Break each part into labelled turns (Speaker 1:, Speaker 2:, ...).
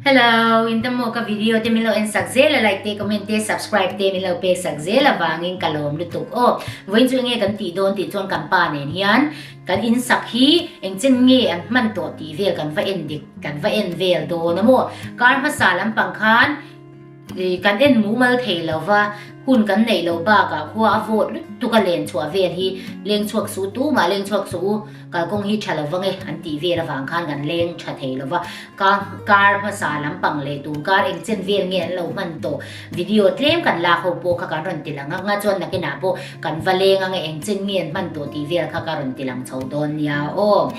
Speaker 1: Hello, in the mo ka video te min lo en sak zel a like te comment te subscribe te min lo pek sak zel avangin ka lawm lutuk aw. Vawiin chu enge kan tih dawn tih chuan kan pa nen hian kan in sak hi engchen nge an hman tawh tih vel kan va en dik kan va en vel dawn a maw. Kar hmasa lampang khan Kan en mumal thei lo va, hun kan neih lo bakah khua a vawt lutuk a len chhuah vel hi leng chhuak suh tu mah leng chhuak suh u, kalkawng hi tha lo va nge an tih vel avang khan kan leng tha thei lo va. Ka car hmasa lampang leh tum car engchen vel nge an lo hman tawh video tlem kan lak ho pawh kha kan rawn ti la ngak ngak chuan nakinah pawh kan va leng ang e engchen nge an hman tawh tih vel kha ka rawn ti lang chho dawn nia aw.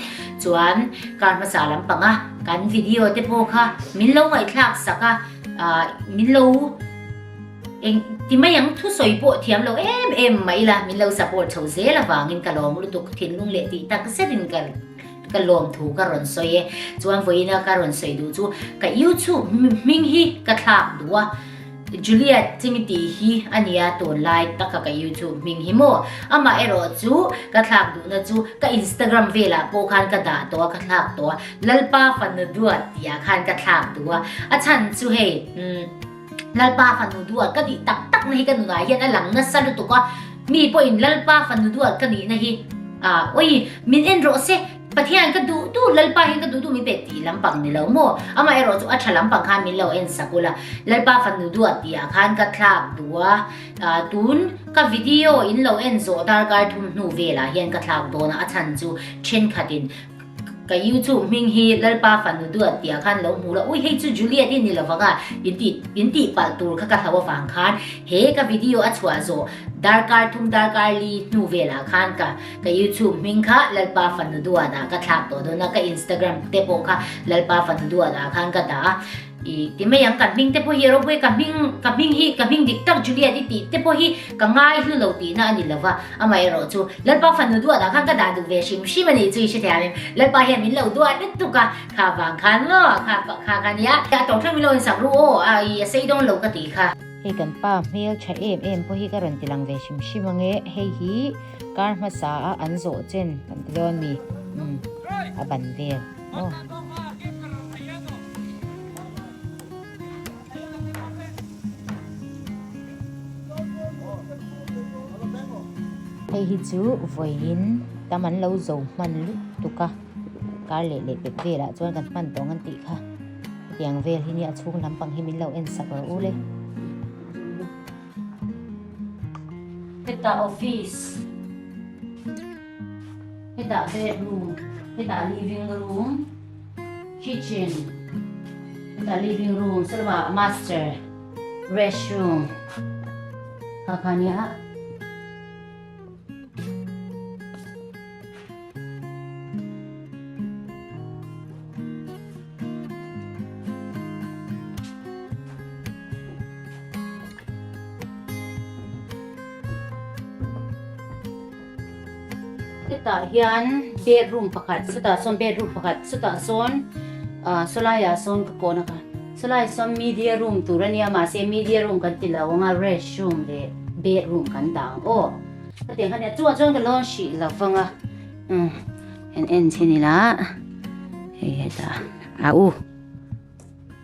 Speaker 1: Chuan car hmasa lampanga kan video te pawh kha min lo ngaihthlak sak a. Ahh min lo eng ti mai ang thusawi pawh thiam lo em em mai la min lo support chho zel avangin ka lawm lutuk thinlung leh tih tak zetin ka ka lawm thu ka rawn sawi e chuan vawiina ka rawn sawi duh chu ka youtube hming hi ka thlak duh a Juliet Chimiti hi a nia tunlai taka ka youtube hming hi maw amaherawh chu ka thlak duhna chu ka instagram velah pawh khan ka dah tawh a ka thlak tawh a Lalpa fanu duat tia khan ka thlak duh a, a chhan chu hei umm Lalpa fanu duat ka nih tak tak na hi ka nunah hian a lang nasa lutuk a, mi pawhin Lalpa fanu duat ka nihna hi ah awi min en rawh se, Pathian ka duh duh Lalpa hian ka duh duh min pe tih lampang ni lo maw? Amah erawh chu a tha lampang khan min lo en sak ula, Lalpa fanu duat tia khan ka thlak duh a, ah tun ka video in lo en zawh darkar thum hnu velah hian ka thlak dawn a, a chhan chu thenkhatin Ka you chu hming hi Lalpa Fanu tu an tia khan lo hmu la, ui hei chu Juliet hi ni lo vanga in ti in tih palh tur kha ka hlau avang khan he ka video a chhuah zawh darkar thum darkar li hnu velah khan ka ka you chu hming kha Lalpa Fanu duan ah ka thlak tawh dawn a ka Instagram te pawh kha Lalpa Fanu duan ah khan ka dah a I ti mai ang kan hming te pawh hi a rawbawih ka hming ka hming hi ka hming dik tak Juliet i tih te pawh hi ka ngai hlu lo tihna a ni lo va amaherawh chu Lalpa fanu duah dan khan ka dah duh ve hrim hrim a nih chu i hrethiam em Lalpa hian min lo duah lutuk a kha vang khan maw kha kha kha nia a tawng thleng min lo insak ru aw a i a sei dawn lo ka tih kha. Hei kan pa hmeltha em em pawh hi ka rawn ti lang ve hrim hrim ange hei hi kar hmasa a an zawh chen kan ti dawn a ni umm a ban vel. Hei hi chu vawiin tam an lo zo hman lutuk tuk a, kar leh leh pek velah chuan kan hman tawng an tih kha. Hetiang vel hi nia a chhung lampang hi min lo en sak rawh u le. Heta office. Hetah bedroom, hetah living room, kitchen, hetah living room, se lova master, restroom, kha kha nia. Chutah hian bedroom pakhat, chutah sawn bedroom pakhat, chutah sawn Solaia sawn ka pawh naka. Solaia sawn media room tur a nia, mahse media room kan ti lo ang a, rest room leh bedroom kan dah ang aw. Ka tih ang kha nia, chungah chuan ka lawn hrih lo vang a. Kan en chhin ila, hei hetah, au.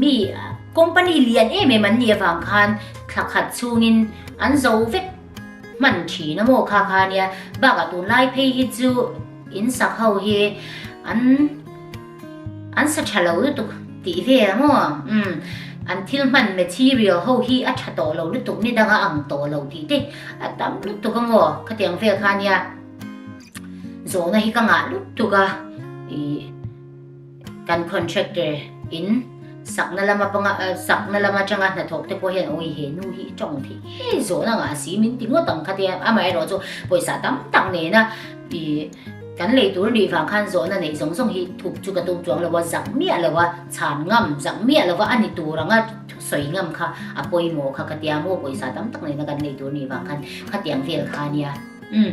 Speaker 1: Mi company lian em em an nih avang khan thla khat chungin an zo vek hman thin a maw kha kha nia bak a tun lai phei hi chu in sak ho hi an an sa tha lo lutuk tih ve a maw um an thil hman material ho hi a tha tawh lo lutuk ni dang a ang tawh lo tih te a tam lutuk a maw khatiang vel kha nia zawhna hi ka ngah lutuk a ih Kan contractor in sakna lam apanga sakna lam atanga hnathawk te pawh hian awi he nu hi i tawng thei ngei zawh nangah a si min ti ngawt ang kha tia amaherawh erawh chu pawisa tam tak nena i kan lei tur nih vang khan zawhna neih zawng zawng hi thup chu ka tum chuang lo a zak miah lo a chhan ngam zak miah lo a a ni tur anga sawi ngam kha a pawimawh kha ka tia maw pawisa tam tak nena kan lei tur nih vang khan khatiang vel kha nia.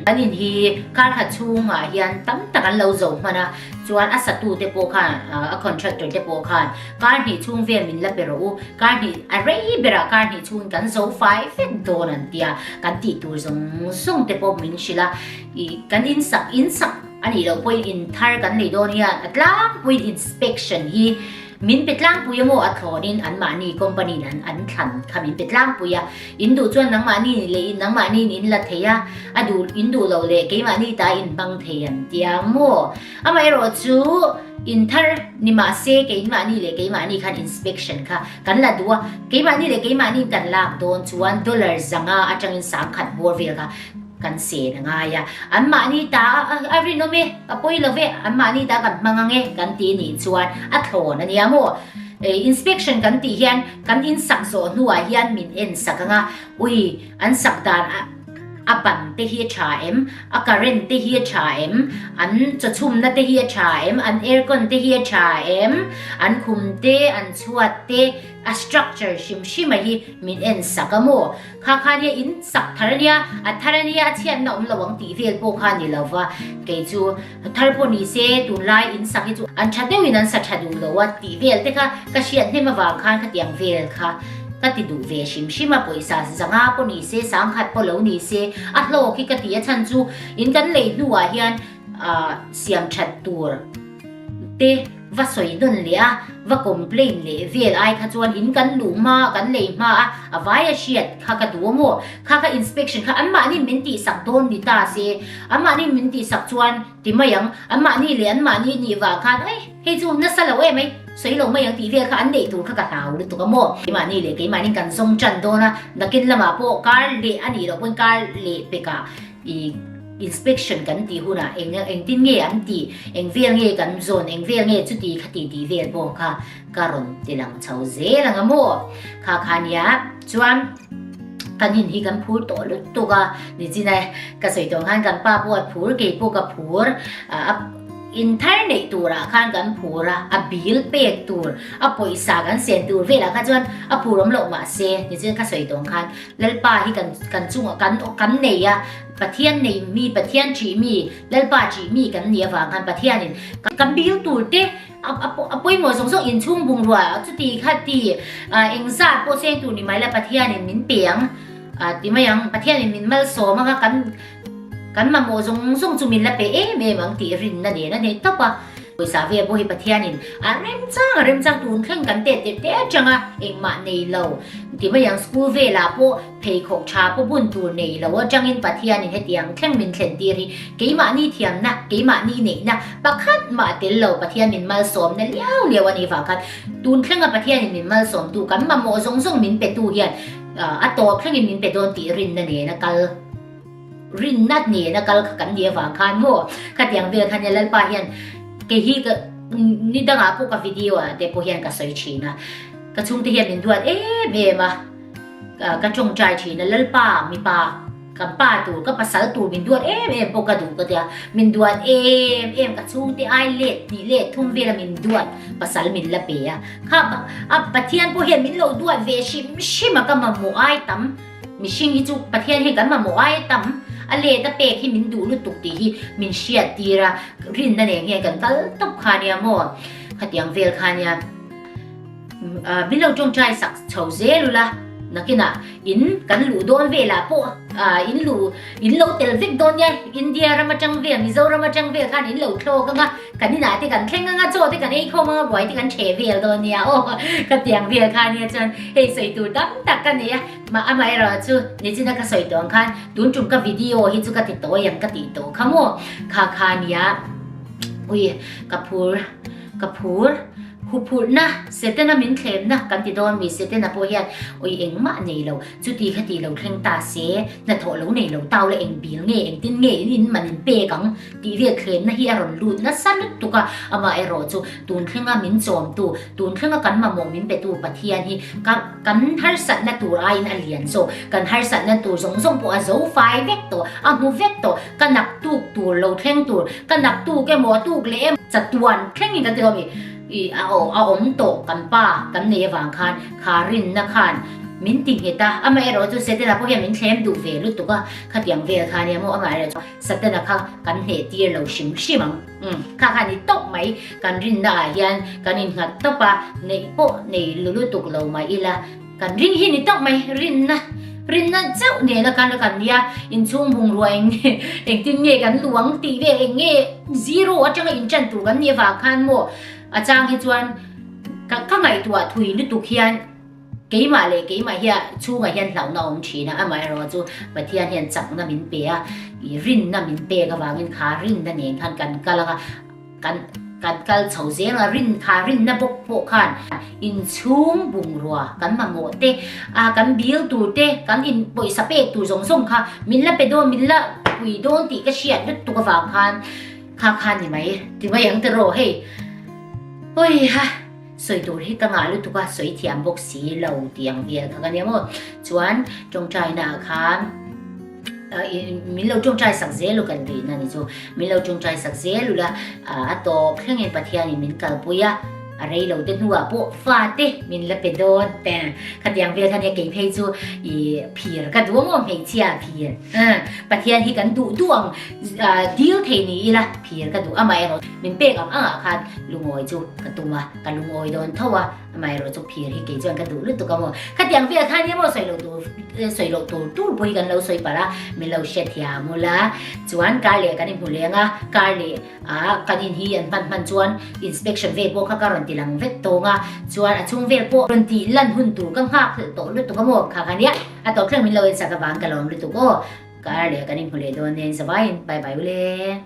Speaker 1: Kan in hi Karha chhungah hian tam tak an lo zo hman a, chuan a satute pawh khan, a contractor te pawh khan kar hnih chhung vel min la pe rawh u, kar hnih a rei berah kar hnih chhungin kan zo fai vek dawn an tia kan tih tur zawng zawng te pawh min hrilh a, i kan in sak in sak a nih loh pawhin in thar kan nei dawn hian a tlangpuiin inspection hi Min pe tlangpui emaw a thlawnin anmahni company in an thlan kha min pe tlangpui a, in duh chuan nangmahni ni leh nangmahniin in la thei a, a duh in duh lo leh keimahni ta in hmang thei an ti a maw? Amaherawh chu in thar ni mahse keimahni leh keimahni khan inspection kha kan la duh a, keimahni leh keimahniin kan lak dawn chuan dollar zanga atangin sam khat bawr vel kha, Kan sen a ngai a, anmahni ta a rin awm e, ka pawi lo ve, anmahni ta kan hmang ang e kan tih nih chuan a thlawn a nia maw? Inspection kan tih hian kan in sak zawh hnuah hian min en sak ang a, ui an sak dan a ban te hi a tha em, a current te hi a tha em, an chawchhumna te hi a tha em, an aircon te hi a tha em, an khum te, an chhuat te, a structure hrim hrima hi min en sak a maw? Kha kha nia in sak thar ania, a thar ania a chhiatna awm lo ang tih vel pawh kha ni lo va, kei chu thar pawh ni se tunlai in sak hi chu an tha deuh in an sa tha duh lo a tih vel te kha ka hriat hnem avang khan ka tiang vel kha ka ti duh ve hrim hrim a, pawisa zanga pawh ni se sang khat pawh lo ni se a hlawk hi ka ti a chhan chu in kan lei hnuah hian siam that tur te va sawi dawn leh a, va complain leh vel ai kha chuan in kan luh hma a kan lei hma a, a vai a hriat kha ka duh maw? Kha kha inspection kha anmahni min tihsak dawn ni ta se, anmahni min tihsak chuan ti mai ang, anmahni leh anmahni nih vah khan aih hei chu nasa lo em aih sawi lo mai ang tih vel kha an neih tur kha ka hlau lutuk a maw? Keimahni leh keimahni kan zawng tan dawn a, nakin lamah pawh kar leh a nih loh pawn kar leh pekah, inspection kan tih hunah engtin nge an tih, engvel nge kan zawn, engvel nge chuti kha tih tih vel pawh kha ka rawn ti lang chho zel ang a maw. Kha kha nia chuan ka hnim hi kan phur tawh lut tuk a, ni chin a ka sawi tawh ang khan kan pa pawh a phur kei pawh ka phur, in thar neih turah khan kan phur a, a bil pek tur, a pawisa kan siam tur velah kha chuan a phur awm loh mah se, ni chuan ka sawi tawh ang khan, Lalpa hi kan kan chungah kan kan nei a, Pathian nei mi, Pathian ṭih mi, Lalpa ṭih mi kan nih avang khan Pathianin kan biail tur te a a pawimawh zawng zawng inchhung bungrua chuti kha ti engzat pawh a cheng tur ni mai la Pathianin min pe ang ti mai ang, Pathianin min malsawm ang a kan Kan mamawh zawng zawng chu min la pe em em ang tih rinna nen a nei tawp a. Pawisa via pawh hi Pathianin a remchang a remchang tun thleng kan tet leh te atang a, engmah nei lo. Ti mai ang school velah pawh pheikhawk tha pawh bun tur nei lo atangin Pathianin heti ang thleng min thlen tir hi keimahni thiamna, keimahni neihna pakhat mah tel lo Pathian min malsawmna liau liau a nih vang khan tun thlenga Pathianin min malsawmtu kan mamawh zawng zawng min petu hian A tawp thlengin min pe dawn tih rinna nena kal rinna nena kal kha kan nih avang khan maw khatiang vel khan hian Lalpa hian kei hi ka ni dangah pawh ka video ah te pawh hian ka sawi thin a ka chhungte hian min duat em em a ka tawngtai thin a Lalpa mipa Ka pa tur, ka pasal tur min duat em em pawh ka duh ka tia. Min duat em em ka chhungte ai let hnih let thum vela min duat pasal min la pe a. Kha a Pathian pawh hian min lo duat ve hrim hrim a ka mamawh ai tam. Mihring hi chu Pathian hian kan mamawh ai tam. A let a pek hi min duh lutuk tih hi min hriat tir a. Rinna nen hian kan kal tawp kha nia maw? Khatiang vel kha nia. Milo tawng chai sak chho zel ula nakina in kan luh dawn velah pawh in luh in lo tel vek dawn nia India ram atang vel Mizoram atang vel khan in lo thlawk anga kan inah te kan thleng anga chaw te kan ei khawm anga buai te kan chhe vel dawn nia aw ka tiang vel khan nia chuan hei sawi tur tam tak ka ni a ma ama era chu nichina ka sawi tawng khan tun tum ka video hi chu ka ti tawi ang ka ti taw kha maw kha kha nia ui ka phur ka phur, huphurhna, setena min thlenna kan ti dawn mi setena pawh hian awi eng mah nei lo, chuti kha tih lo thleng ta se, hna thawh lo nei lo ta ula eng bil nge eng tin nge in in man in pek ang tih vel thlenna hi a rawn lut nasa lut tuk a, amah erawh chu tun thlenga min chawmtu, tun thlenga kan mamawh min petu Pathian hi ka kan harsatna tur aiin a lian zawk, kan harsatna tur zawng zawng pawh a zo fai vek tawh, a hmu vek tawh, ka naktuk tur lo thleng tur ka naktuk emaw a tuk leh emaw chatuan thleng in kan ti hlawm i a a awm tawh kan pa kan nei avang khan kha rinna khan min ti nghet a amah erawh chu Satana pawh hian min thlem duh ve lutuk a khatiang vel kha nia maw amah erawh chu Satana kha kan hneh tir lo hrim hrim ang kha kha ni tawp mai kan rinna ah hian kan in nghat tawp a neih pawh nei lutuk lo mah ila Kan ring hi ni tak mai, rinna, rinna chauh nena kan rakan nia, inchhung bungrua eng nge, engtin nge kan luang tih ve eng nge zero atanga inṭan tur kan nih avang khan maw a chang hi chuan ka ka ngaihtuah thui lutuk hian keimah leh keimah hian chhungah hian hlauhna a awm ṭhin a, amaherawhchu chu Pathian hian chakna min pe a, i rinna min pek avangin kha rinna nen khan kan kal ang a. Kan kan kal chho zel a, rin kha rin na bawk pawh khan inchhung bungrua kan mamawh te, a kan bil tur te, kan in pawisa pek tur zawng zawng kha min la pe dawn, min la pui dawn tih ka hriat lut tuk avang khan kha khan ni mai. Ti mai ang te rawh hei. Awih ha. sawi tur hi ka ngah lutuk a sawi thiam bawk si lo tih ang vial kha ka nia maw chuan tawngtai na ah khan min lo tawngtai sak zel u kan tih na ni chu min lo tawngtai sak zel u la a tawp thleng in pathian in min kal pui a a rei lo te hnu ah pawh fa te min la pe dawn te kha tiang vial kha nia kei phei chu i phir ka duang aw hmeichhia phir pathian hi kan duh duang dil thei ni ila phir ka duh amah erawh min pek ang angah khan lungawi chu ka tum a ka lungawi dawn tho a amaherawh chu phir hi kei chuan ka duh lutuk a maw khatiang vêlah khan emaw sawi lo tur sawi lo tur tur pawh hi kan lo sawi palh a min lo hre thia ngul a chuan kar leh kan inhmu leng a kar leh a kan in hi an hman hman chuan inspection vel pawh kha ka rawn ti lang vek tawng a chuan a chung vel pawh rawn ti lan hun tur ka nghak tawh lutuk a maw kha khania a tawp thleng min lo en sak avang ka lo awm lutuk aw kar leh kan inhmu leh dawn nen zavaiin bye bye ule